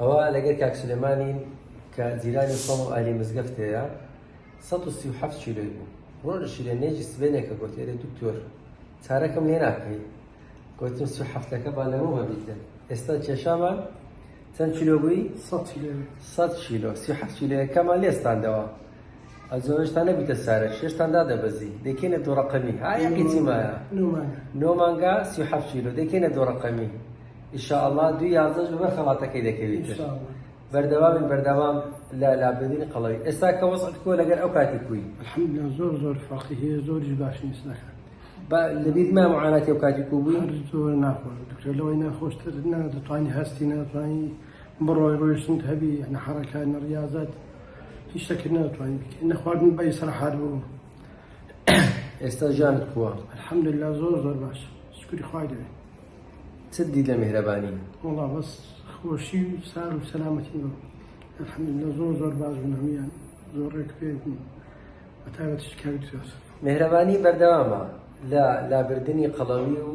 ئەوە لەگەر کاک سلێمانی کە جیرانی خۆم و ئالی مزگەفتەیە 137 شیرەی بوو ڕۆژ شیرە نێجی سبێنێکە گوت ئێرە دکتۆر چارەکەم لێ ناکەی گوتم سو هەفتەکە با لەمە وەبیتە ئێستا کێشامان چەند کیلۆ بووی 100 کیلۆ 100 کیلۆ 37 کیلۆەکەمان لێستاندەوە ئەزۆ هێشتا نەبوویتە سارێ شێشتان دادەبەزی دەکەینە دوو ڕەقەمی ها یەکی چی مایە نۆ مانگا سی و حەفت کیلۆ دەکەینە دوو ڕەقەمی ئیشاءاللە دوو یازدەش بە خەڵاتەکەی دەکەویت بەردەوامین بەردەوام لە لابدین قەڵەوی ئێستا کە وەسەت کۆ لەگەر ئەو کاتی کوی الحمدلله زۆر زۆر فەقی هەیە زۆریش باش نیست نەکەن لەبیت ما معاناتی و کاتی کو بووین زۆر ناخۆش دکتۆر لەوەی ناخۆشتر نە دەتوانانی هەستی ناتوانانی بڕۆی ڕۆیشتن هەبی نە حەڕەکە نە ڕاضت هیچ شتەکت ناتوانی بکەی نە خواردن بە ئیسراحات بوو ئێستا ژیانت کووە الحەمدلله زۆر زۆر باش شکری خوای دەوێ چ دی لە میهرەبانی وڵا بەس خۆشی و سار و سەلامەتی بوو الحەمدلله زۆر زۆر باش بوون هەمویان زۆر ڕێک پێ بوون بە تایبەت شکاری تۆس میهرەبانی بەردەوامە لە لابردنی قەڵەوی و